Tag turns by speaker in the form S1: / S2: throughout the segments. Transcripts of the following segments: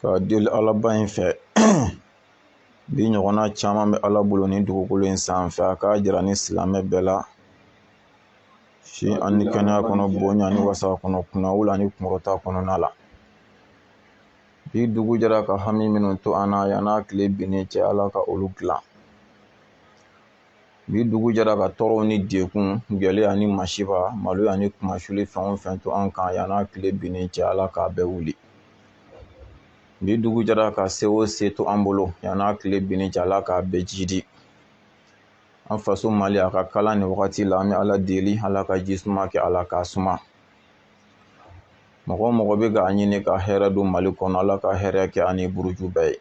S1: ka deli alaba in fɛ bi ɲɔgɔnna caman bɛ ala bolo ni dugukolo in sanfɛ a k'a jira ni silamɛ bɛɛ la si ani kɛnɛya kɔnɔ bonya ni wasa kɔnɔ kunnawolo ni kunkɔrɔta kɔnɔna la bi dugu jɛra ka hami minnu to an na yan n'a tile binnen cɛ ala ka olu dilan bi dugu jɛra ka tɔɔrɔw ni degun gɛlɛya ni masiba maloya ni kunmasuli fɛn o fɛn to an kan yan n'a tile binnen cɛ ala k'a bɛɛ wuli bi dugu jɛra ka se o se to an bolo yan n'a tile binnen cɛ ala k'a bɛɛ jidi an faso mali a ka kalan nin wagati la an bɛ ala deli ala ka ji suma kɛ a la k'a suma mɔgɔ mɔgɔ bɛ k'a ɲini ka hɛrɛ don mali kɔnɔ ala ka hɛrɛ kɛ a ni buruju bɛɛ ye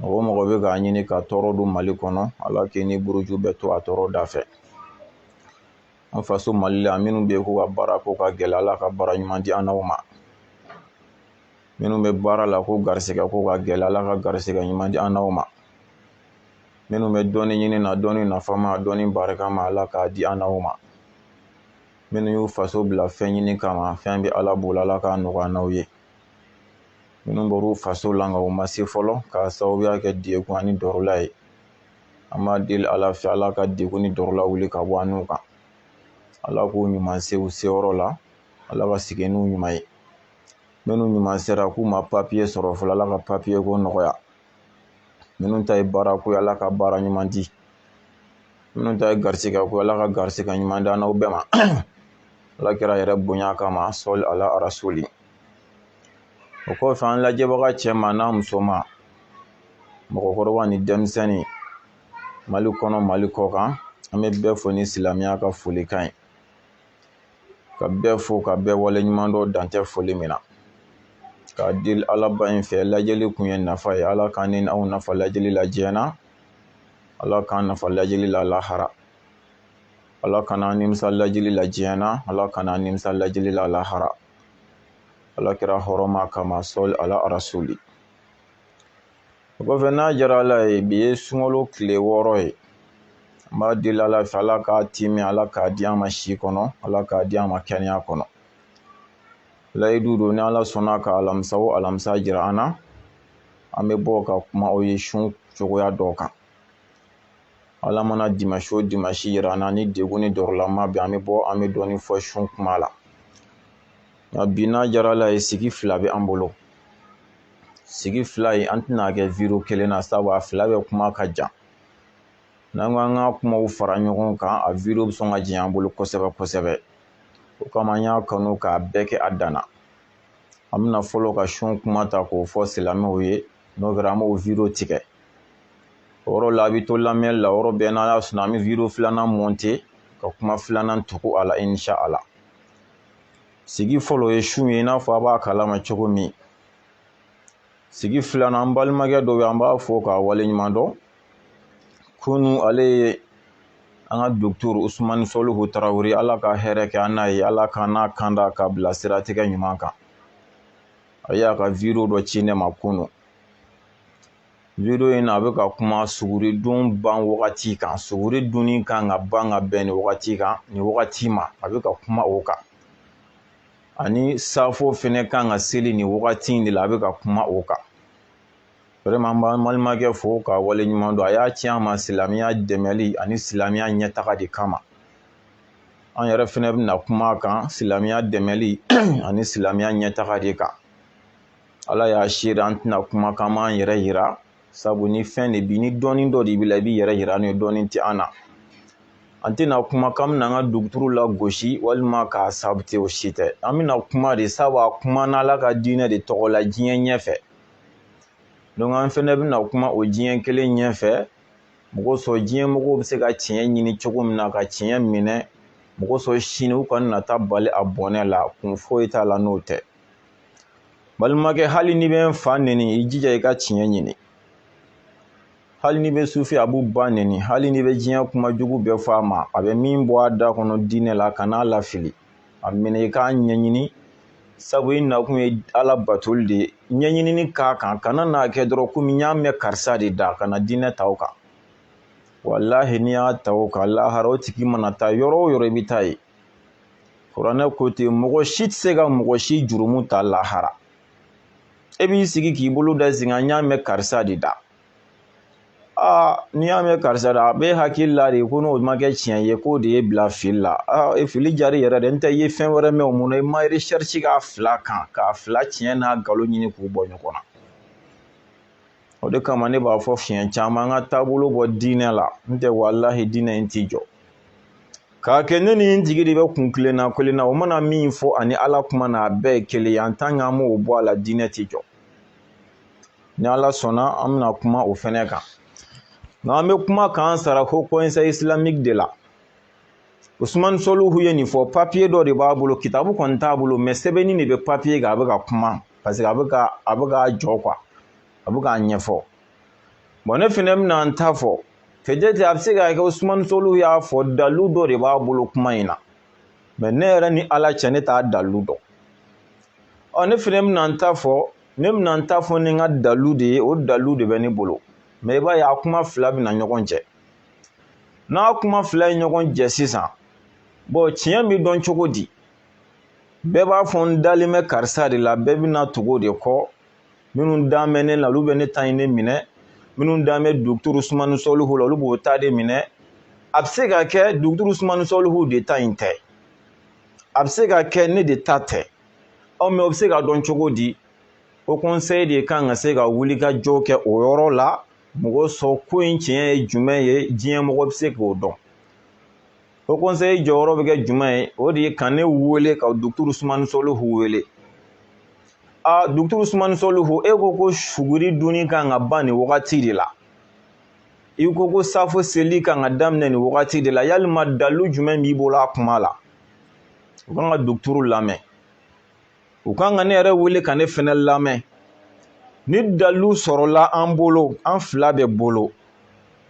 S1: mɔgɔ mɔgɔ bɛ k'a ɲini ka tɔɔrɔ don mali kɔnɔ ala k'i ni buruju bɛɛ to a tɔɔrɔ da fɛ an faso mali la minnu bɛ yen k'u ka baara ko ka gɛlɛn ala ka baara ɲuman di an n'aw ma minnu bɛ baara la ko garisɛgɛ ko ka gɛlɛn ala ka garisɛgɛ ɲuman di an n'aw ma minnu bɛ dɔɔnin ɲini na dɔɔnin nafama dɔɔnin barikama ala k'a di an n'aw ma minnu y'u faso bila fɛn ɲini kama fɛn bɛ ala bolo ala k'a nɔgɔya an n'aw ye minnu bɔr'u faso la nka u ma se fɔlɔ k'a sababuya kɛ degun ani dɔrɔla ye an b'a deli ala fɛ ala ka degun ni dɔrɔla wuli ka bɔ an n'u kan ala k'u ɲuman se u seyɔrɔ la ala ka segin n'u ɲuman ye minnu ɲuman sera k'u ma papiye sɔrɔ fɔlɔ ala ka papiye ko nɔgɔya minnu ta ye baara ko ye ala ka baara ɲuman di minnu ta ye garisɛgɛ ko ala ka garisɛgɛ ɲuman di an n'aw bɛɛ ma ala kira yɛrɛ bonya kama sɔli ala arasuli o kɔfɛ an lajɛbaga cɛman n'a musoman mɔgɔkɔrɔba ni denmisɛnnin mali kɔnɔ mali kɔkan an bɛ bɛɛ fo ni silamɛya ka folikan ye ka bɛɛ fo ka bɛɛ waleɲumandɔn dan tɛ foli min na k'a deli alaba in fɛ lajɛli kun ye nafa ye ala k'an ni aw nafa lajɛli la diɲɛ na ala k'an nafa lajɛli la lahara ala kan'an nimisa lajɛli la diɲɛ na ala kan'an nimisa lajɛli la lahara ala kira hɔrɔma kama sɔli ala arasuli o kɔfɛ n'a diyara ala ye bi ye sunkalo tile wɔɔrɔ ye an b'a deli ala fɛ ala k'a timi ala k'a di an ma si kɔnɔ ala k'a di an ma kɛnɛya kɔnɔ layidu don ni ala sɔnna ka alamisa o alamisa jira an na an bɛ bɔ ka kuma o ye sun cogoya dɔw kan ala mana dimasi o dimasi jira an na ni degun ni dɔrɔla ma bɛ an bɛ bɔ an bɛ dɔɔnin fɔ sun kuma la nka bi n'a diyara ala ye sigi fila bɛ an bolo sigi fila ye an tɛn'a kɛ wideyo kelen na sabu a fila bɛ kuma ka jan n'an ko an ka kumaw fara ɲɔgɔn kan a wideyo bɛ sɔn ka janya an bolo kosɛbɛ kosɛbɛ o kama an y'a kanu k'a bɛɛ kɛ a danna an bɛna fɔlɔ ka sun kuma ta k'o fɔ silamɛw ye n'o kɛra an b'o wideyo tigɛ o yɔrɔ la a bɛ to lamɛnni la yɔrɔ bɛɛ n'ala sɔnna an bɛ wideyo filanan mɔnte ka kuma filanan tugu a la inshaala sigi fɔlɔ ye sun ye i n'a fɔ aw b'a kalama cogo min sigi filanan an balimakɛ dɔ bɛ yen an b'a fo k'a waleɲuman dɔn kunu ale ye an ka docteur usumani sɔlihu tarawele ala ka hɛrɛ kɛ an n'a ye ala k'an n'a kanda k'an bila siratigɛ ɲuman kan a y'a ka wideyo dɔ ci ne ma kunu video in a bɛ ka kuma suguridun ban wagati kan suguri dunni kan ka ban ka bɛn nin wagati kan nin wagati ma a bɛ ka kuma o kan ani safo fɛnɛ kan ka seli nin wagati in de la a bɛ ka kuma o kan vraiment an b'an balimakɛ fo k'a waleɲuman dɔn a y'a ci an ma silamɛya dɛmɛli ani silamɛya ɲɛtaga de kama an yɛrɛ fɛnɛ bɛna kuma a kan silamɛya dɛmɛli ani silamɛya ɲɛtaga de kan ala y'a seere an tɛna kuma k'an b'an yɛrɛ yira sabu ni fɛn de b'i ni dɔnni dɔ de b'i la i b'i yɛrɛ yira n'o ye dɔnni tɛ an na an tɛna kuma k'an bɛna an ka duguturu lagosi walima k'a sabote o si tɛ an bɛna kuma de sabu a kumana ala ka diinɛ de tɔgɔ la diɲɛ ɲɛfɛ donc an fɛnɛ bɛna kuma o diɲɛ kelen ɲɛfɛ masɔrɔ diɲɛ mɔgɔw bɛ se ka tiɲɛ ɲini cogo min na ka tiɲɛ minɛ masɔrɔ sini u kana taa bali a bɔnɛ la kun foyi t'a la n'o tɛ balimakɛ hali n'i bɛ n fa nɛni i jija i ka tiɲɛ ɲini hali n'i bɛ sufi abu ba nɛni hali n'i bɛ diɲɛ kuma jugu bɛɛ fɔ a ma a bɛ min bɔ a da kɔnɔ diinɛ la kan'a lafili a minɛ i k'a ɲɛɲini sabu i nakun ye ala batoli de ye ɲɛɲinini k'a kan kana n'a kɛ dɔrɔn komi n y'a mɛn karisa de da kana diinɛ ta o kan walahi n'i y'a ta o kan lahara o tigi mana taa yɔrɔ o yɔrɔ i bɛ taa yen kuranɛ ko ten mɔgɔ si tɛ se ka mɔgɔ si jurumu ta lahara e b'i sigi k'i bolo da i sen kan n y'a mɛn karisa de da aa n'i y'a mɛn karisa da a b'i hakili la de ko n'o ma kɛ tiɲɛ ye k'o de y'i bila fili la aa e fili jari yɛrɛ dɛ n tɛ i ye fɛn wɛrɛ mɛn o mun na i ma recherche k'a fila kan k'a fila tiɲɛ n'a nkalon ɲini k'u bɔ ɲɔgɔn na o de kama ne b'a fɔ siɲɛ caman an ka taabolo bɔ diinɛ la n tɛ walahi diinɛ in t'i jɔ k'a kɛ ne ni n jigi de bɛ kun kelenna kelenna o mana min fɔ ani ala kuma na a bɛɛ ye kelen ye en tant qu'an m'o bɔ a la diinɛ t'i jɔ ni ala sɔnna an bɛna kuma o fɛnɛ kan nka an bɛ kuma k'an sara ko conseil islamique de la usumani soluhu ye nin fɔ papiye dɔ de b'a bolo kitabu kɔni t'a bolo mais sɛbɛnni de bɛ papiye kan a bɛ ka kuma parce que a bɛ ka a bɛ k'a jɔ quoi a bɛ k'a ɲɛfɔ bon ne fɛnɛ bɛna n ta fɔ peut-être a bɛ se ka kɛ usumani soluhu y'a fɔ dalu dɔ de b'a bolo kuma in na mais ne yɛrɛ ni ala cɛ ne t'a dalu dɔn ɔ ne fɛnɛ bɛna n ta fɔ ne bɛna n ta fɔ ni n ka dalu de ye o dalu de bɛ ne bolo mais i b'a ye a kuma fila bɛna ɲɔgɔn jɛ n'a kuma fila ye ɲɔgɔn jɛ sisan bon tiɲɛ bɛ dɔn cogo di bɛɛ b'a fɔ n dalen bɛ karisa de la bɛɛ bɛna tugu o de kɔ minnu dan bɛ ne la olu bɛ ne ta in de minɛ minnu dan bɛ duguturu sumani sɔlihu la olu b'o ta de minɛ a bɛ se ka kɛ duguturu sumani sɔlihu de ta in tɛ a bɛ se ka kɛ ne de ta tɛ ɔ mais o bɛ se ka dɔn cogo di o conseil de kan ka se ka wuli ka jɔ kɛ o yɔrɔ la mɔgɔ sɔn ko in tiɲɛ ye jumɛn ye diɲɛ mɔgɔ bɛ se k'o dɔn o conseil jɔyɔrɔ bɛ kɛ jumɛn ye o de ye ka ne wele ka duguturu sumani sɔlihu wele a duguturu sumani sɔlihu e ko ko suguri dunni kan ka ban nin wagati de la i ko ko safo seli kan ka daminɛ nin wagati de la yalima dalu jumɛn b'i bolo a kuma la u kan ka duguturu lamɛn u kan ka ne yɛrɛ wele ka ne fɛnɛ lamɛn ni dalu sɔrɔla an bolo an fila bɛɛ bolo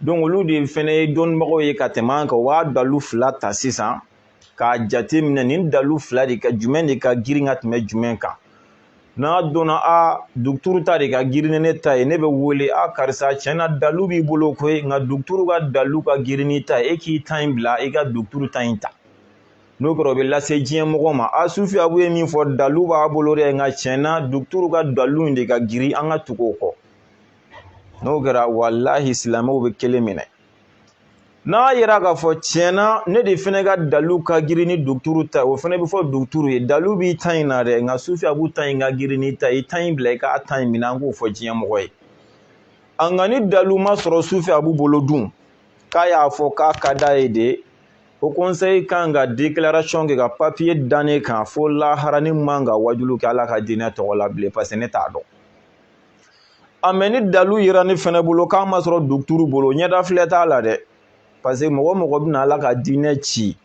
S1: donc olu de fɛnɛ ye dɔnnibagaw ye ka tɛmɛ an kan u b'a dalu fila ta sisan k'a jate minɛ nin dalu fila de ka jumɛn de ka girin ka tɛmɛ jumɛn kan n'a dɔnna a duguturu ta de ka girin ni ne ta ye ne bɛ wele a karisa tiɲɛ na dalu b'i bolo koyi nka duguturu ka dalu ka girin n'i ta ye e k'i ta in bila i ka duguturu ta in ta n'o kɛra o bɛ lase diɲɛ mɔgɔ ma a sufi abu ye min fɔ dalu b'a bolo dɛ nka tiɲɛna duguturu ka dalu in de ka girin an ka tugu o kɔ n'o kɛra walahi silamɛw bɛ kelen minɛ n'a yera k'a fɔ tiɲɛna ne de fana ka dalu ka girin ni duguturu ta o fana bɛ fɔ duguturu ye dalu b'i ta in na dɛ nka sufi abu ta in ka girin n'i ta ye i ta in bila i k'a ta in minɛ an k'o fɔ diɲɛ mɔgɔ ye a nka ni dalu ma sɔrɔ sufi abu bolo dun k'a y'a fɔ k'a ka d'a ye de o conseil kan ka déclaration kɛ ka papiye da ne kan fo lahara ne man ka wajulu kɛ ala ka diinɛ tɔgɔ la bilen parce que ne t'a dɔn a mais ni dalu yera ne fɛnɛ bolo k'a ma sɔrɔ duguturu bolo ɲɛda filɛ t'a la dɛ parce que mɔgɔ o mɔgɔ bɛna ala ka diinɛ ci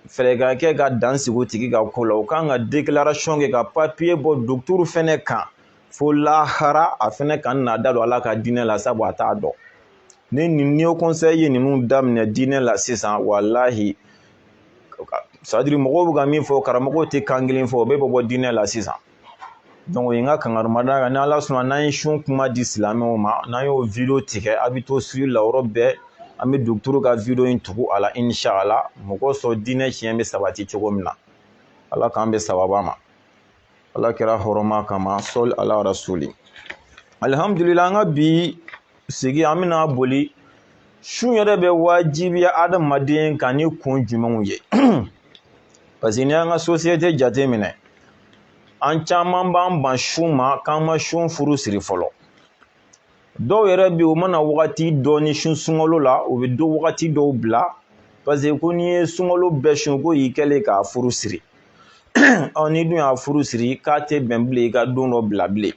S1: fɛɛrɛ ka kɛ ka dan sigi o tigi ka ko la o kan ka déclaration kɛ ka papiye bɔ duguturu fɛnɛ kan fo lahara a fɛnɛ kana a da don ala ka diinɛ la sabu a t'a dɔn ni o conseil ye ninnu daminɛ diinɛ la sisan walahi sadiri mɔgɔw bɛ ka min fɔ karamɔgɔw tɛ kan kelen fɔ o bɛ bɔ bɔ diinɛ la sisan dɔnku o ye n ka kankarimada kan ni ala sɔnna n'an ye sun kuma di silamɛw ma n'an y'o video tigɛ a bɛ to suivre la yɔrɔ bɛɛ an bɛ duguturu ka video in tugu a la inshala mɔgɔ sɔrɔ diinɛ tiɲɛ bɛ sabati cogo min na ala k'an bɛn sababa ma ala kira hɔrɔma kama sɔli ala rasuli alihamdulila an ka bi sigi an bɛna boli sun yɛrɛ bɛ wajibiya adamaden kan ni kun jumɛnw ye parce que n'i y'an ka sosiyete jate minɛ an caman b'an ban sun ma k'an ma sun furu siri fɔlɔ dɔw yɛrɛ bɛ yen u mana wagati dɔ ni sun sunkalo la u bɛ don wagati dɔw bila paseke ko n'i ye sunkalo bɛɛ sun k'o y'i kɛlen k'a furu siri ɔ n'i dun y'a furu siri k'a tɛ bɛn bilen i ka don dɔ bila bilen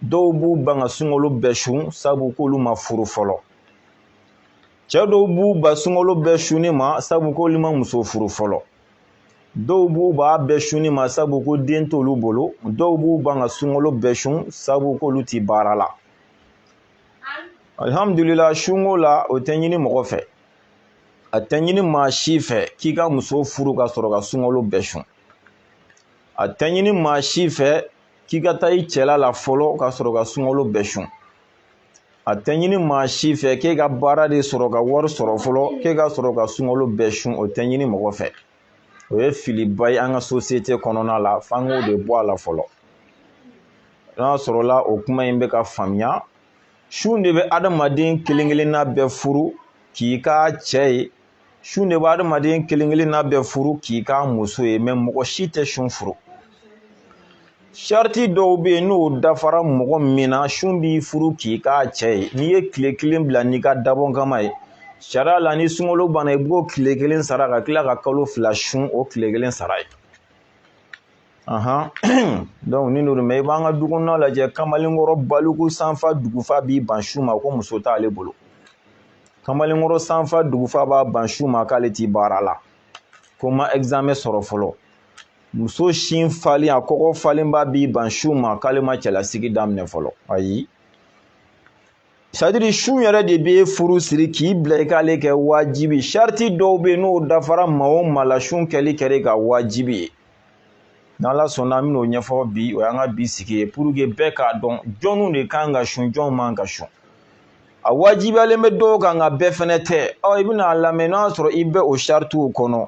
S1: dɔw b'u ban ka sunkalo bɛɛ sun sabu k'olu ma furu fɔlɔ cɛ dɔw b'u ban sunkalo bɛɛ sunni ma sabu k'olu ma muso furu fɔlɔ dɔw b'u b'a bɛɛ sunni ma sabu ko den t'olu bolo dɔw b'u ban ka sunkalo bɛɛ sun sabu k'olu ti baara la alihamudulila sunko la o tɛ ɲini mɔgɔ fɛ a tɛ ɲini maa si fɛ k'i ka muso furu ka sɔrɔ ka sunkalo bɛɛ sun a tɛ ɲini maa si fɛ k'i ka taa i cɛla la fɔlɔ ka sɔrɔ ka sunkalo bɛɛ sun a tɛ ɲini maa si fɛ k'e ka baara de sɔrɔ ka wari sɔrɔ fɔlɔ k'e ka sɔrɔ ka sunkalo bɛɛ sun o tɛ ɲini mɔgɔ fɛ o ye filiba ye an ka sosiyete kɔnɔna la f'an k'o de bɔ a la fɔlɔ n'a sɔrɔla o kuma in bɛ ka faamuya sun de bɛ adamaden kelen kelenna bɛɛ furu k'i k'a cɛ ye sun de bɛ adamaden kelen kelenna bɛɛ furu k'i k'a muso ye mɛ mɔgɔ si tɛ sun furu sariti dɔw bɛ yen n'o dafara mɔgɔ min na sun b'i furu k'i k'a cɛ ye n'i ye tile kelen bila n'i ka dabɔn kama ye sariya la ni sunkalo banna i b'o tile kelen sara ka tila ka kalo fila sun o tile kelen sara ye dɔnku ni n'olu mɛ i b'an ka du kɔnɔna lajɛ kamalenkɔrɔ baliku sanfa dugufa b'i ban sun ma ko muso t'ale bolo kamalenkɔrɔ sanfa dugufa b'a ban sun ma k'ale ti baara la ko ma ɛgizamɛ sɔrɔ fɔlɔ muso sin falen a kɔgɔ falenba b'i ban sun ma k'ale ma cɛlasigi daminɛ fɔlɔ ayi sadiri sun yɛrɛ de b'e furu siri k'i bila i k'ale kɛ wajibi sariti dɔw bɛ yen n'o dafara maa o maa la sun kɛli kɛr'i kan wajibi ye n'ala sɔnna an bɛn'o ɲɛfɔ bi o y'an ka bi sigi ye puruke bɛɛ k'a dɔn jɔnw de kan ka sun jɔnw man ka sun a wajibiyalen bɛ dɔw kan nka bɛɛ fɛnɛ tɛ ɔ i bɛna a lamɛn n'o y'a sɔrɔ i bɛ o saritiw kɔnɔ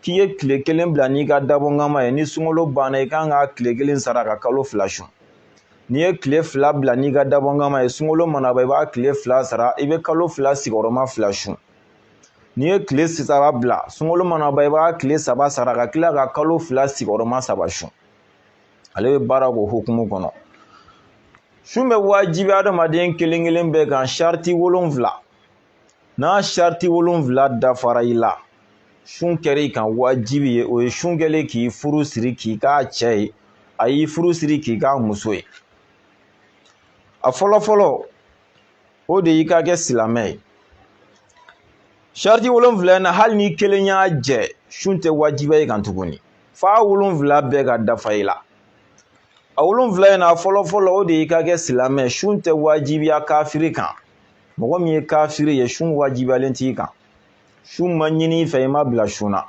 S1: k'i ye tile kelen bila n'i ka dabɔnkama ye ni sunkalo banna i kan ka tile kelen sara ka kalo fila sun n'i ye tile fila bila n'i ka dabɔnkama ye sunkalo mana ban i b'a tile fila sara i bɛ kalo fila sigiyɔrɔma fila sun n'i ye tile saba bila sunkalo mana ban i b'a tile saba sara ka tila ka kalo fila sigiyɔrɔma saba sun ale bɛ baara k'o hukumu kɔnɔ sun bɛ wajibi adamaden kelen kelen bɛɛ kan sariti wolonfila n'a sariti wolonwula dafara i la sun kɛra i kan wajibi ye o ye sun kɛlen k'i furu siri k'i k'a cɛ ye a y'i furu siri k'i k'a muso ye a fɔlɔ fɔlɔ o de y'i ka kɛ silamɛ ye sariti wolonwula in na hali ni kelen y'a jɛ sun tɛ wajibiya i kan tuguni f'a wolonwula bɛɛ ka dafa i la a wolonwula in na fɔlɔ fɔlɔ o de y'i ka kɛ silamɛ sun tɛ wajibiya kafiri kan mɔgɔ min ye kafiri ye sun wajibiyalen t'i kan sun ma ɲini i fɛ i ma bila sun na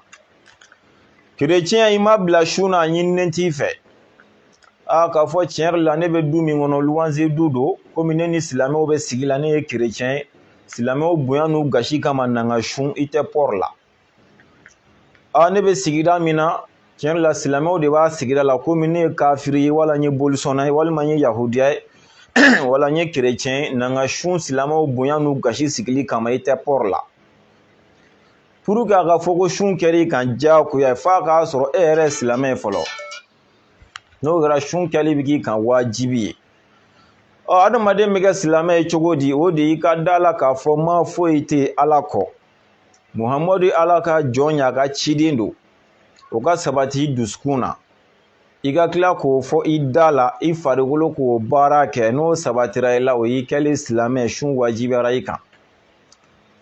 S1: kerecɛn i ma bila sun na a ɲininen t'i fɛ aa k'a fɔ tiɲɛ yɛrɛ la ne bɛ du min kɔnɔ luwanze du don komi ne ni silamɛw bɛ sigi la ne ye kerecɛn ye silamɛw bonya n'u gasi kama na n ka sun i tɛ pɔri la a ne bɛ sigida min na tiɲɛ yɛrɛ la silamɛw de b'a sigida la komi ne ye kafiri ye wala n ye bolisɔnna ye walima n ye yahudiya ye wala n ye kerecɛn ye na n ka sun silamɛw bonya n'u gasi sigili kama i tɛ pɔri la pour que a ka fɔ ko sun kɛr'i kan diyagoya f'a k'a sɔrɔ e yɛrɛ ye silamɛ ye fɔlɔ n'o kɛra sun kɛli bɛ k'i kan wajibi ye ɔ adamaden bɛ kɛ silamɛ ye cogo di o de y'i ka da la k'a fɔ ma foyi tɛ ala kɔ muhamadu ye ala ka jɔn ye a ka ciden don o ka sabati i dusukun na i ka tila k'o fɔ i da la i farikolo k'o baara kɛ n'o sabatira i la o y'i kɛlen silamɛ sun wajibiyara i kan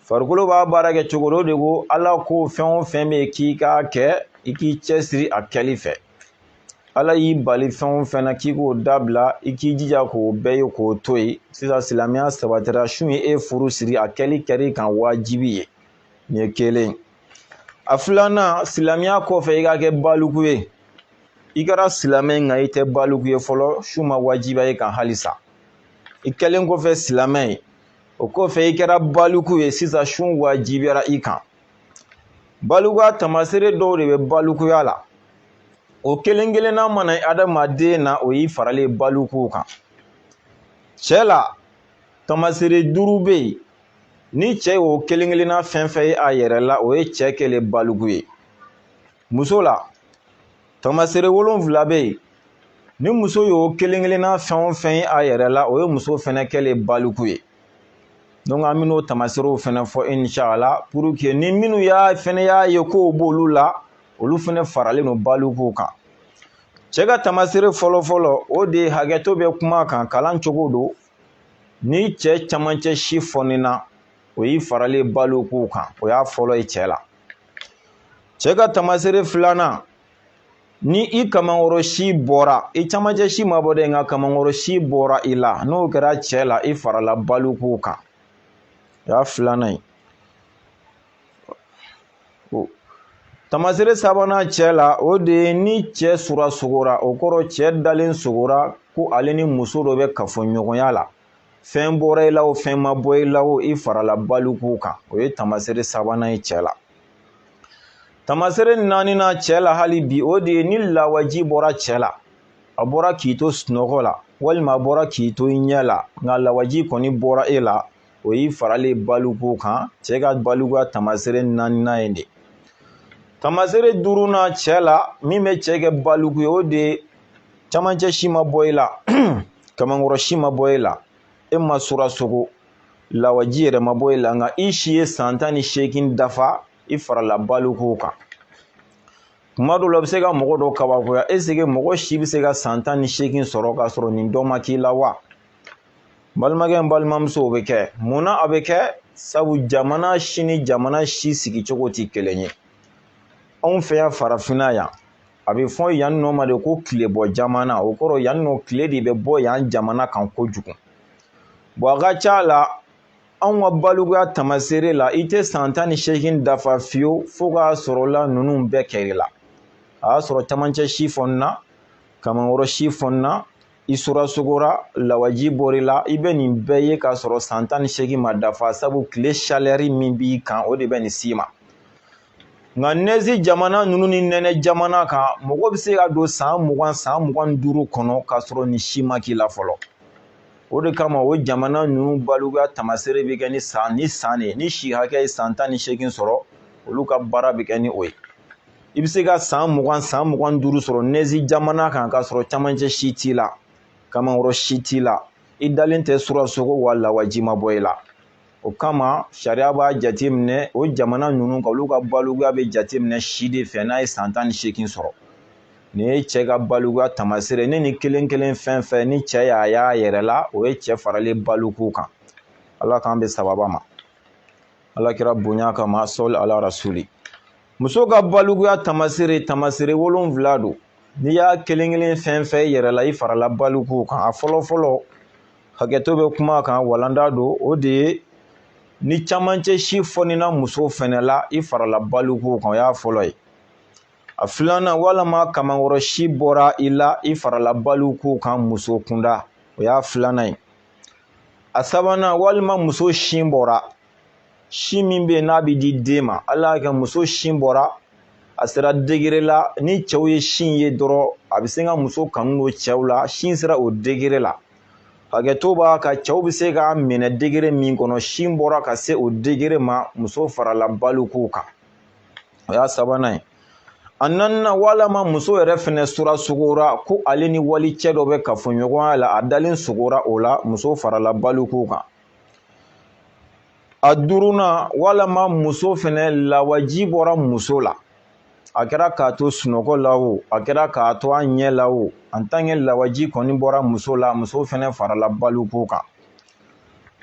S1: farikolo b'a baara kɛ cogo di o de ko ala ko fɛn o fɛn bɛ yen k'i k'a kɛ i k'i cɛsiri a kɛli fɛ ala y'i bali fɛn o fɛn na k'i k'o dabila i k'i jija k'o bɛɛ ye k'o to yen sisan silamɛya sabatira sun ye e furu siri a kɛli kɛr'i kan wajibi ye nin ye kelen a filanan silamɛya kɔfɛ i ka kɛ baliku ye i kɛra silamɛ nka i tɛ baliku ye fɔlɔ sun ma wajibiya e kan halisa i kɛlen kɔfɛ silamɛ ye o kɔfɛ i kɛra baliku ye sisan sun wajibiyara i kan Balikuya tamasere dɔw de bɛ balikuya la o kelen kelenna mana ye adamaden na o y'i faralen balikuw kan cɛ la tamasere duuru bɛ yen ni cɛ y'o kelen kelenna fɛn fɛn ye a yɛrɛ la o ye cɛ kɛlen baliku ye muso la tamasere wolonfila bɛ yen ni muso y'o kelen kelenna fɛn o fɛn ye a yɛrɛ la o ye muso fɛnɛ kɛlen baliku ye donc an bɛn'o tamaseerew fana fɔ inshallah pour que ni minnu y'a fana y'a ye k'o b'olu la olu fana faralen don balikuw kan cɛ ka tamaseere fɔlɔfɔlɔ o de ye hakɛto bɛ kuma kan kalan cogo don ni cɛ camancɛ si fɔnina o y'i faralen balikuw kan o y'a fɔlɔ ye cɛ la cɛ ka tamaseere filanan ni i kamankɔrɔ si bɔra i camancɛ si ma bɔ dɛ nka kamankɔrɔ si bɔra i la n'o kɛra cɛ la i farala balikuw kan o y'a filanan ye tamasere sabanan cɛ la o de ye ni cɛ surasogora o kɔrɔ cɛ dalen sogora ko ale ni muso dɔ bɛ kafoɲɔgɔnya la fɛn bɔra i la o fɛn ma bɔ i la o i farala balikuw kan o ye tamasere sabanan ye cɛ la tamasere naaninan cɛ la hali bi o de ye ni lawaji bɔra cɛ la a bɔra k'i to sunɔgɔ la walima a bɔra k'i to i ɲɛ la nka lawaji kɔni bɔra e la o y'i faralen balikuw kan cɛ ka balikuya tamasere naaninan ye de tamasere duurunan cɛ la min bɛ cɛ kɛ baliku ye o de ye camancɛ si ma bɔ i la kamankɔrɔ si ma bɔ e la e ma surasogo lawaji yɛrɛ ma bɔ e la nka i si ye san tan ni seegin dafa i farala balikuw kan kuma dɔw la a bɛ se ka mɔgɔ dɔ kabakoya est-ce que mɔgɔ si bɛ se ka san tan ni seegin sɔrɔ k'a sɔrɔ nin dɔ ma k'i la wa balimakɛ n balimamuso o bɛ kɛ mun na a bɛ kɛ sabu jamana si ni jamana si sigicogo tɛ kelen ye anw fɛ yan farafinna yan a bɛ fɔ yan nɔ ma de ko tilebɔ jamana o kɔrɔ yan nɔ tile de bɛ bɔ yan jamana kan kojugu bon a ka ca la anw ka balikuya tamaseere la i tɛ san tan ni seegin dafa fiyewu fo k'a sɔrɔ la ninnu bɛɛ kɛr'i la a y'a sɔrɔ camancɛ si fɔnna kamankɔrɔ si fɔnna i surasogora lawaji bɔr'i la i bɛ nin bɛɛ ye k'a sɔrɔ san tan ni seegin ma dafa sabu tile chaleur min b'i kan o de bɛ nin s'i ma nka nɛzi jamana ninnu ni nɛnɛ jamana kan mɔgɔ bɛ se ka don san mugan san mugan ni duuru kɔnɔ k'a sɔrɔ nin si ma k'i la fɔlɔ o de kama o jamana ninnu balikuya tamaseere bɛ kɛ ni san ni san de ni si hakɛ ye san tan ni seegin sɔrɔ olu ka baara bɛ kɛ ni o ye i bɛ se ka san mugan san mugan ni duuru sɔrɔ nɛzi jamana kan k'a sɔrɔ camancɛ si t'i la kamankɔrɔ si t'i la i dalen tɛ surasogo wa lawaji ma bɔ i la o kama sariya b'a jateminɛ o jamana ninnu kan olu ka balikuya bɛ jateminɛ si de fɛ n'a ye san tan ni seegin sɔrɔ nin ye cɛ ka balikuya tamasere ye nin kelen kelen fɛn fɛn ni cɛ y'a y'a yɛrɛ la o ye cɛ faralen balikuw kan ala k'an bɛn sawaba ma ala kira bonya kama sɔli ala rasuli muso ka balikuya tamasere tamasere wolonwula don n'i y'a kelen kelen fɛn fɛn y'i yɛrɛ la i farala balikuw kan a fɔlɔ fɔlɔ hakɛto bɛ kuma kan walanda don o de ye ni camancɛ si fɔnina muso fɛnɛ la i farala balikuw kan o y'a fɔlɔ ye a filanan walama kamankɔrɔ si bɔra i la i farala balikuw kan muso kunda o y'a filanan ye a sabanan walima muso sin bɔra sin min bɛ yen n'a bɛ di den ma ala y'a kɛ muso sin bɔra a sera degere la ni cɛw ye sin ye dɔrɔn a bɛ se ka muso kanu don cɛw la sin sera o degere la hakɛto b'a kan cɛw bɛ se k'a minɛ degere min kɔnɔ sin bɔra ka se o degere ma muso farala balikuw kan o y'a sabanan ye a naaninan walama muso yɛrɛ fɛnɛ sura sogora ko ale ni wali cɛ dɔ bɛ kafoɲɔgɔnya la a dalen sogora o la muso farala balikuw kan a duurunan walama muso fɛnɛ lawaji bɔra muso la a kɛra k'a to sunɔgɔ la o a kɛra k'a to a ɲɛ la o antanke lawaji kɔni bɔra muso la muso fɛnɛ farala balikuw kan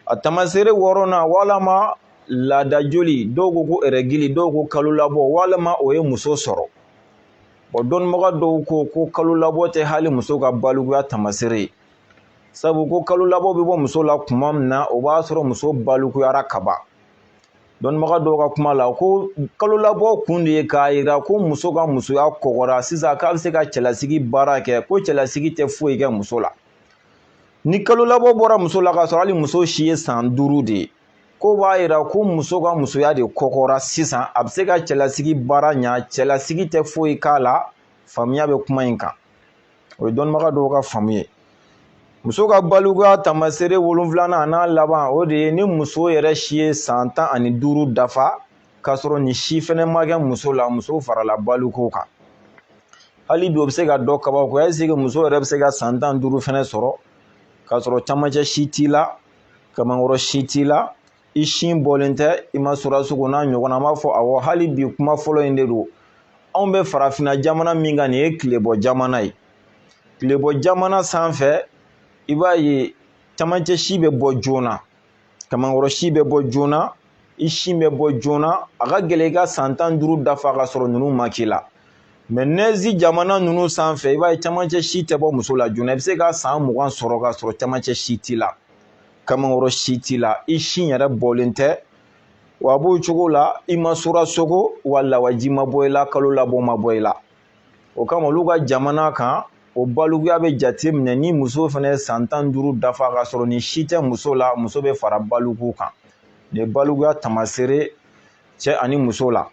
S1: a tamaseere wɔɔrɔnan walama laada joli dɔw ko ko ɛrɛgili dɔw ko kalo labɔ walama o ye muso sɔrɔ o dɔnnibaga dɔw ko ko kalo labɔ tɛ hali muso ka balikuya tamaseere ye sabu ko kalo labɔ bɛ bɔ muso la tuma min na o b'a sɔrɔ muso balikuyara ka ban dɔnnibaga dɔw ka kuma la ko kalo labɔ kun de ye k'a jira ko muso ka musoya kɔgɔra sisan k'a bɛ se ka cɛlasigi baara kɛ ko cɛlasigi tɛ foyi kɛ muso la ni kalo labɔ bɔra muso la k'a sɔrɔ hali muso si ye san duuru de ye k'o b'a jira ko muso ka musoya de kɔgɔra sisan a bɛ se ka cɛlasigi baara ɲa cɛlasigi tɛ foyi k'a la faamuya bɛ kuma in kan o ye dɔnnibaga dɔw ka faamu ye muso ka balikuya taamasere wolonfilanan a n'a laban o de ye ni muso yɛrɛ si ye san tan ani duuru dafa k'a sɔrɔ nin si fɛnɛ ma kɛ muso la muso farala balikuw kan hali bi o bɛ se ka dɔ kabakoya ɛseke muso yɛrɛ bɛ se ka san tan duuru fɛnɛ sɔrɔ k'a sɔrɔ camancɛ si t'i la kamankɔrɔ si t'i la i sin bɔlen tɛ i ma sura sogo n'a ɲɔgɔnna an b'a fɔ awɔ hali bi kuma fɔlɔ in de don anw bɛ farafinna jamana min kan nin ye tilebɔ jamana ye tilebɔ jamana sanfɛ i b'a ye camancɛ si bɛ bɔ joona kamankɔrɔ si bɛ bɔ joona i sin bɛ bɔ joona a ka gɛlɛn i ka san tan duuru dafa k'a sɔrɔ ninnu ma k'i la mɛ nɛzi jamana ninnu sanfɛ i b'a ye camancɛ si tɛ bɔ muso la joona i bɛ se ka san mugan sɔrɔ k'a sɔrɔ camancɛ si t'i la kamankɔrɔ si t'i la i sin yɛrɛ bɔlen tɛ wa a b'o cogo la i ma sura sogo wa lawaji ma bɔ i la kalo labɔ ma bɔ i la o kama olu ka jamana kan o balikuya bɛ jate minɛ ni muso fana ye san tan duuru dafa k'a sɔrɔ nin si tɛ muso la muso bɛ fara balikuw kan nin ye balikuya tamaseere cɛ ani muso la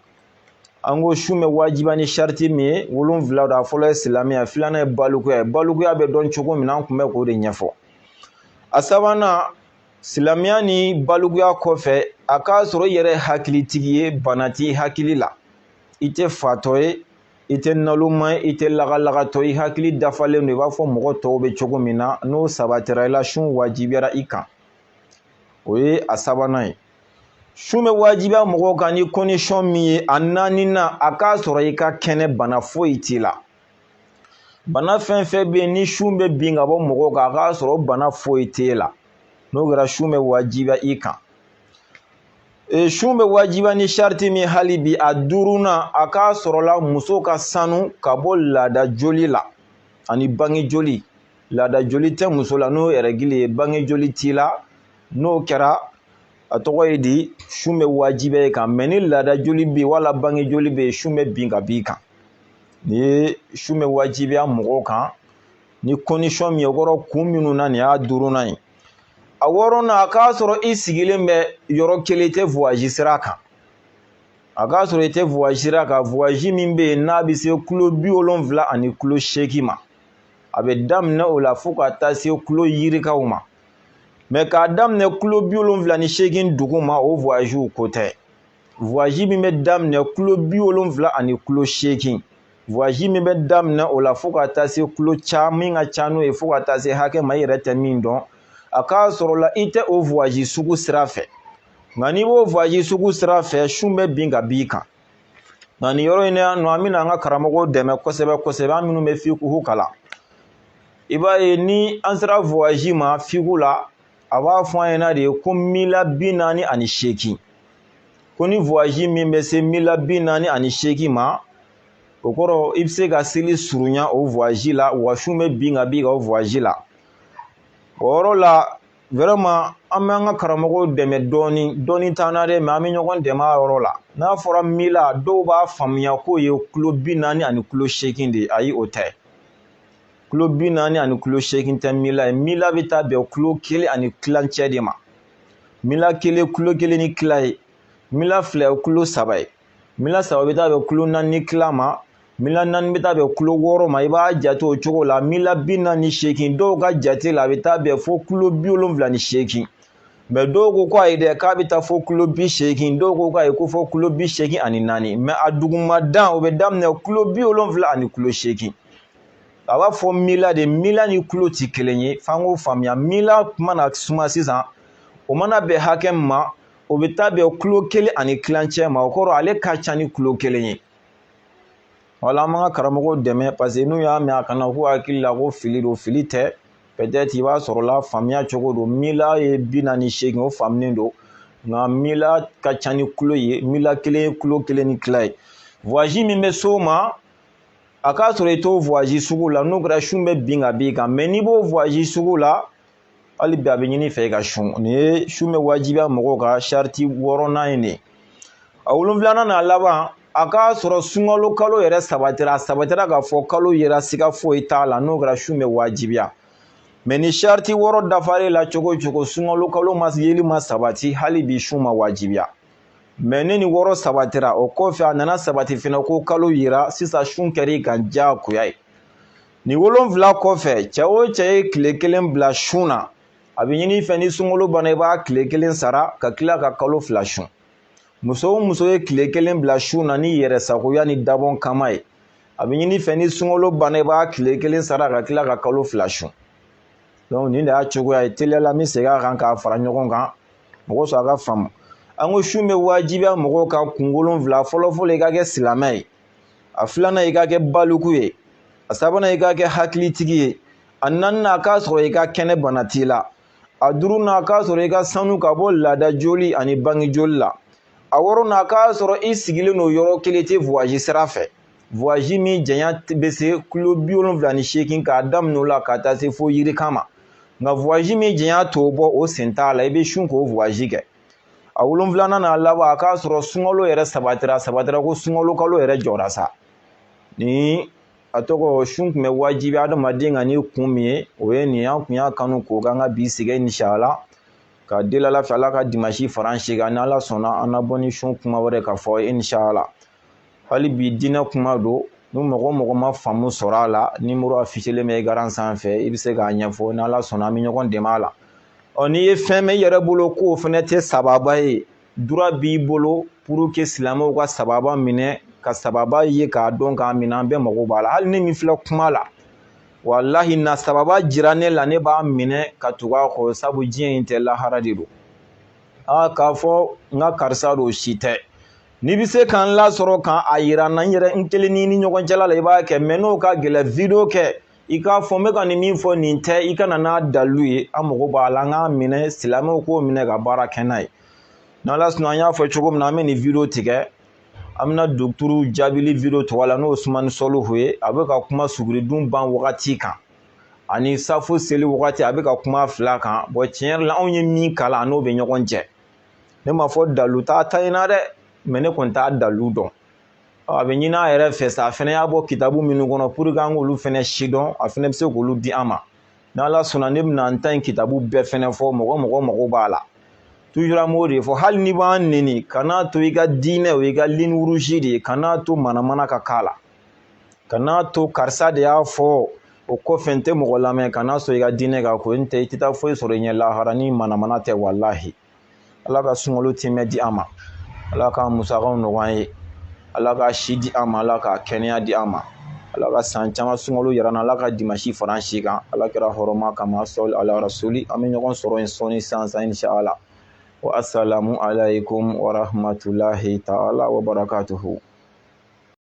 S1: an ko sun bɛ wajibiya ni sariti min ye wolonfila don a fɔlɔ ye silamɛya filanan ye balikuya ye balikuya bɛ dɔn cogo min na an tun bɛ k'o de ɲɛfɔ a sabanan silamɛya ni balikuya kɔfɛ a k'a sɔrɔ i yɛrɛ hakilitigi ye bana t'i hakili la i tɛ fatɔ ye i tɛ naloma ye i tɛ lagalagatɔ i hakili dafalen don i b'a fɔ mɔgɔ tɔw bɛ cogo min na n'o sabatira i la sun wajibiyara i kan o ye a sabanan ye sun bɛ wajibiya mɔgɔw kan ni kɔndisɔn min ye a naaninan a k'a sɔrɔ i ka kɛnɛ bana foyi t'i la bana fɛn fɛn bɛ yen ni sun bɛ bin ka bɔ mɔgɔw kan a k'a sɔrɔ bana foyi t'e la n'o kɛra sun bɛ wajibiya i kan e, sun bɛ wajibiya ni sariti min ye hali bi a duurunan a k'a sɔrɔla muso ka sanu ka bɔ laada joli la ani bange joli laada joli tɛ muso la n'o ye rɛgili ye bange joli t'i la n'o kɛra a tɔgɔ ye di sun bɛ wajibiya i kan mɛ ni laada joli bɛ yen wala bange joli bɛ yen sun bɛ bin ka b'i kan nin ye sun bɛ wajibiya mɔgɔw kan ni kɔndisɔn min ye o kɔrɔ kun minnu na nin y'a duurunan ye a wɔɔrɔnan a k'a sɔrɔ i sigilen bɛ yɔrɔ kelen i tɛ voyazi sira kan a k'a sɔrɔ i tɛ voyazi sira kan voyazi min bɛ yen n'a bɛ se kulo bi wolonfila ani kulo seegin ma a bɛ daminɛ o la fo ka taa se kulo yirikaw ma mɛ k'a daminɛ kulo bi wolonfila ni seegin duguma o voyaziw ko tɛ voyazi min bɛ daminɛ kulo bi wolonfila ani kulo seegin voyazi min bɛ daminɛ o la fo ka taa se kulo ca min ka ca n'o ye fo ka taa se hakɛ ma i yɛrɛ tɛ min dɔn a k'a sɔrɔ la i tɛ o voyazi sugu sira fɛ nka n'i b'o voyazi sugu sira fɛ sun bɛ bin ka b'i kan nka nin yɔrɔ in na yan nɔ an bɛna an ka karamɔgɔw dɛmɛ kosɛbɛ kosɛbɛ an minnu bɛ fiku kalan i b'a ye ni an sera voyazi ma fiku la a b'a fɔ an ɲɛna de ko mila bi naani ani seegin ko ni voyazi min bɛ se mila bi naani ani seegin ma o kɔrɔ i bɛ se ka seli surunya o voyazi la wa sun bɛ bin ka b'i kan o voyazi la o yɔrɔ la vraiment an bɛ an ka karamɔgɔw dɛmɛ dɔɔni dɔnni t'an na dɛ mais an bɛ ɲɔgɔn dɛmɛ a yɔrɔ la n'a fɔra mila dɔw b'a faamuya k'o ye kulo bi naani ani kulo seegin de ye ayi o tɛ kulo bi naani ani kulo seegin tɛ mila ye mila bɛ taa bɛn kulo kelen ani tilancɛ de ma mila kelen kulo kelen ni tila ye mila fila ye kulo saba ye mila saba bɛ taa bɛn kulo naani ni tila ma mila naani bɛ taa bɛn kulo wɔɔrɔ ma i b'a jate o cogo la mila bi naani ni seegin dɔw ka jate la a bɛ taa bɛn fo kulo bi wolonfila ni seegin mɛ dɔw ko ko ayi dɛ k'a bɛ taa fo kulo bi seegin dɔw ko ayi ko fo kulo bi seegin ani naani mɛ a duguma dan o bɛ daminɛ kulo bi wolonfila ani kulo seegin a b'a fɔ mila de mila ni kulo tɛ kelen ye f'an k'o faamuya mila mana suma sisan o mana bɛn hakɛ min ma o bɛ taa bɛn kilo kelen ani tilancɛ ma o kɔrɔ ale ka ca ni kilo kelen ye wala an b'an ka karamɔgɔw dɛmɛ parce que n'u y'a mɛn a kana k'u hakili la ko fili don fili tɛ peut-être i b'a sɔrɔ la faamuya cogo don mila ye bi naani seegin o faamunen don nka mila ka ca ni kilo ye mila kelen ye kilo kelen ni tila ye voyage min bɛ s'o ma a k'a sɔrɔ i t'o voyage sugu la n'o kɛra sun bɛ bin ka b'i kan mais n'i b'o voyage sugu la hali bi a bɛ ɲini fɛ i ka sun nin ye sun bɛ wajibiya mɔgɔw kan sariti wɔɔrɔnan in de ye a wolonfilanan n'a laban a k'a sɔrɔ sunkalo kalo yɛrɛ sabatira a sabatira k'a fɔ kalo yera siga foyi t'a la n'o kɛra sun bɛ wajibiya mais ni sariti wɔɔrɔ dafar'i la cogo o cogo sunkalo kalo ma yeli ma sabati hali bi sun ma wajibiya mais ni nin wɔɔrɔ sabatira o kɔfɛ a nana sabati fana ko kalo yera sisan sun kɛra i kan diyagoya ye nin wolonfila kɔfɛ cɛ o cɛ ye tile kelen bila sun na a bɛ ɲini fɛ ni sunkalo banna i b'a tile kelen sara ka tila ka kalo fila sun muso o muso ye tile kelen bila sun na n'i yɛrɛ sagoya ni dabɔn kama ye a bɛ ɲini fɛ ni sunkalo banna i b'a tile kelen sara ka tila ka kalo fila sun donc nin de y'a cogoya ye teliya la n bɛ segin a kan k'a fara ɲɔgɔn kan mɔgɔ sɔrɔ a ka faamu an ko sun bɛ wajibiya mɔgɔw kan kun wolonwula fɔlɔfɔlɔ i ka kɛ silamɛ ye a filanan i ka kɛ baliku ye a sabanan i ka kɛ hakilitigi ye a naaninan a k'a sɔrɔ i ka kɛnɛ bana t'i la a duurunan a k'a sɔrɔ i ka sanu ka bɔ laada joli ani bange joli la a wɔɔrɔnan a k'a sɔrɔ i sigilen don yɔrɔ kelen i tɛ voyage sira fɛ voyage min janya bɛ se kilo bi wolonwula ni seegin k'a daminɛ o la ka taa se fo yirika ma nka voyage min janya t'o bɔ o sen t'a la i bɛ sun k'o voyage kɛ a wolonwulanan n'a laban a k'a sɔrɔ sunkalo yɛrɛ sabatira sabatira ko sunkalo kalo yɛrɛ jɔra sa ni a tɔgɔ sun tun bɛ wajibiya adamaden kan ni kun min ye o ye nin an kun y'a kanu k'o k'an ka bi sigi inshallah ka deli ala fɛ ala ka dimasi fara an si kan ni ala sɔnna an na bɔ ni sun kuma wɛrɛ ka fɔ inshallah hali bi diinɛ kuma don ni mɔgɔ o mɔgɔ ma faamu sɔrɔ a la numéro affichelen bɛ écran sanfɛ i bɛ se k'a ɲɛfɔ ni ala sɔnna an bɛ ɲɔgɔn dɛmɛ a la ɔ n'i ye fɛn mɛn i yɛrɛ bolo k'o fana tɛ sababa ye droit b'i bolo pour que silamɛw ka sababa minɛ ka sababa ye k'a dɔn k'a minɛ an bɛɛ mago b'a la hali ne min filɛ kuma la walahi n'a sababa jira ne la ne b'a minɛ ka tugu a kɔ sabu diɲɛ in tɛ lahara de don aa k'a fɔ n ka karisa don si tɛ n'i bɛ se ka n lasɔrɔ ka n'a yira n na n yɛrɛ n kelen ni ni ɲɔgɔn cɛla la i b'a kɛ mais n'o ka gɛlɛn vidéo kɛ i k'a fɔ n bɛ ka nin min fɔ nin tɛ i ka na n'a dalu ye an mago b'a la an k'a minɛ silamɛw k'o minɛ ka baara kɛ n'a ye n'ala sɔnna an y'a fɔ cogo min na an bɛ nin video tigɛ an bɛna docteur jaabili video tugu a la n'o ye usumani sɔlihu ye a bɛ ka kuma suguridun ban wagati kan ani safo seli wagati a bɛ ka kuma fila kan bon tiɲɛ yɛrɛ la anw ye min kalan n'o bɛ ɲɔgɔn cɛ ne ma fɔ dalu t'a ta in na dɛ mais ne kɔni t'a dalu dɔn a bɛ ɲini a yɛrɛ fɛ sa a fana y'a bɔ kitabu minnu kɔnɔ pour que an k'olu fana sidɔn a fana bɛ se k'olu di an ma n'ala sɔnna ne bɛna n ta in kitabu bɛɛ fana fɔ mɔgɔ min mago b'a la toujours an b'o de fɔ hali n'i b'an neni kan'a to i ka diinɛ o i ka ligne rouge de ye kan'a to manamana ka k'a la kan'a to karisa de y'a fɔ o kɔfɛ n tɛ mɔgɔ lamɛn kan'a sɔrɔ i ka diinɛ ka ko n tɛ i tɛ taa foyi sɔrɔ i ɲɛ lahara ni manamana tɛ walahi ala ka sunkalo tiimɛ di an ma ala ka musakaw nɔgɔya an ye ala ka si di an ma ala ka kɛnɛya di an ma ala ka san caman sunkalo yira an na ala ka dimasi fara an si kan ala kira hɔrɔma kama sɔli ala rasuli an bɛ ɲɔgɔn sɔrɔ in sɔɔni sansan inshala wa asalamu alayikumu warahamatulahi taala wabarakatuhu